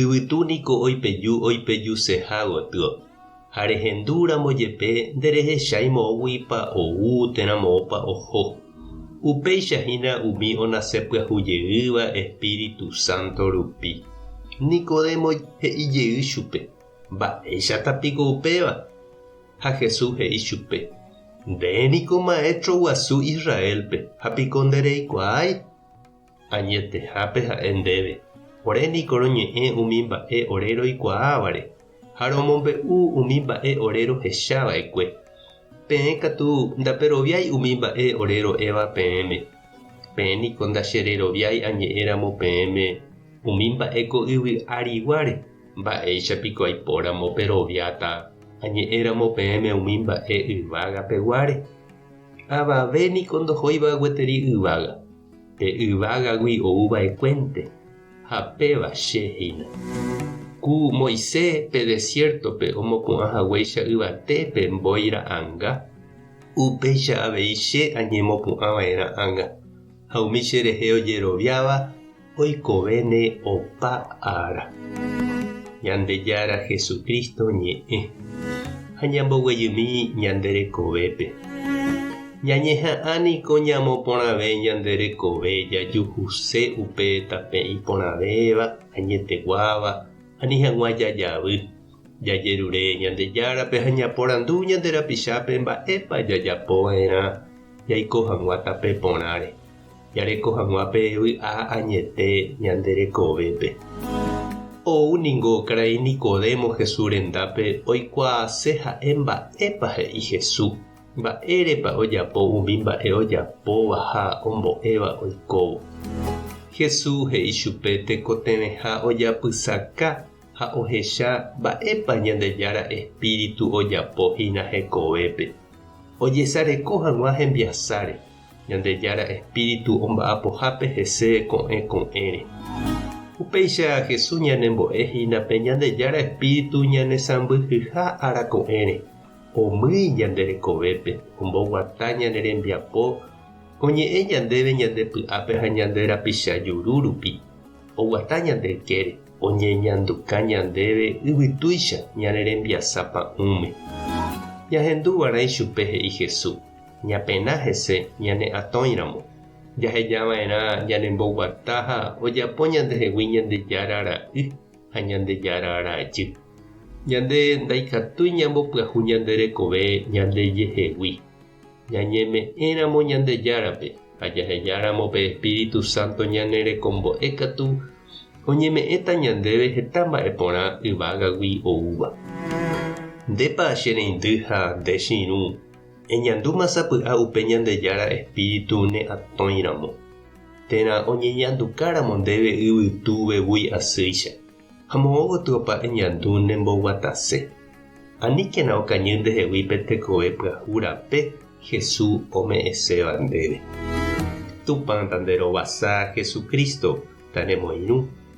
Yvytu niko oipeju oipejuseha gotyo, ha rehendu ramo jepe nderehechái moõguipa ou térã moõpa oho. Upéicha hína umi onase pyahu jeýva Espíritu Santo rupi. Nicodemo he'i jey chupe, Mba'éichata piko upéva? Ha Jesús he'i chupe, Nde niko maestro guasu Israélpe, ha piko ndereikuaái? Añetehápe ha'e ndéve, Ore niko roñe'ẽ umi mba'e ore roikuaávare, ha romombe'u umi mba'e ore rohecha va'ekue. Peẽ katu ndaperoviái umi mba'e ore ro'éva peẽme. Peẽ niko ndachereroviái añe'ẽ ramo peẽme umi mba'e ko yvy ariguáre, mba'éicha piko aipo ramo peroviáta añe'ẽ ramo peẽme umi mba'e yvága peguáre? Avave niko ndohóiva gueteri yvága. Pe yvágagui ouva'ekuénte, ha péva Che hína. Ku Moise pe desiértope omopu'ã haguéicha yvate pe mbói ra'anga, upéicha avei Che añemopu'ã vae ra'anga, ha umi cherehe ojeroviáva oikovéne opa ára. Ñandejára Jesucristo ñe'ẽ. Ha ñamboguejymi ñande rekovépe. Ñañeha'ã niko ñamoporãve ñande rekove jajuhuse upe tape iporãvéva, añeteguáva, ani hag̃ua jajavy, jajerure Ñandejárape ha ñaporandu ñande rapichápe mba'épa jajapo va'erã jaiko hag̃ua tape porãre, jareko hag̃ua pe vy'a añete ñande rekovépe. Ou ningo karai Nicodemo Jesús rendápe oikuaase ha'e mba'épa he'i Jesús. Mba'érepa ojapo umi mba'e ojapóva ha ombo'éva oikóvo? Jesús he'i chupe tekotevẽha ojapysaka ha ohecha mba'épa Ñandejára espíritu ojapo hína hekovépe. Ojesareko hag̃ua hembiasáre, Ñandejára espíritu omba'apohápe hese ko'ẽ ko'ẽre. Upéicha Jesús ñanembo'e hína pe Ñandejára espíritu ñanesãmbyhyha ára ko'ẽre. Omýi ñande rekovépe, omboguata ñane rembiapo, oñe'ẽ ñandéve ñande py'ápe ha ñande rapicha juru rupi, oguata ñande ykére, oñeñanduka ñandéve yvytúicha ñane rembiasa pa'ũme. Ñahendu va'erã ichupe he'i Hesu, ñapena hese ñane atõi ramo. Jaheja va'erã ñane mboguata ha ojapo ñandehegui Ñandejára ra'y. ha Ñandejára ára ajy. Ñande ndaikatúi ñambopyahu ñande rekove ñandejehegui. Ñañeme'ẽramo Ñandejárape ha jahejáramo pe espíritu sánto ñane rekombo'e katu oñeme'ẽta ñandéve heta mba'e porã yvágagui oúva. Ndépa che reindy ha nde che irũ eñandúma sapy'a upe Ñandejára espíritu ne atõiramo? térã oñeñandukáramo ndéve yvytu vevúi asýicha, ha moõ gotyo opa eñandu ne mboguatase. Aníkena okañy ndehegui pe tekove pyahu rape Hesu ome'ẽséva ndéve. Tupã ta nde rovasa Jesucristo ta remoirũ.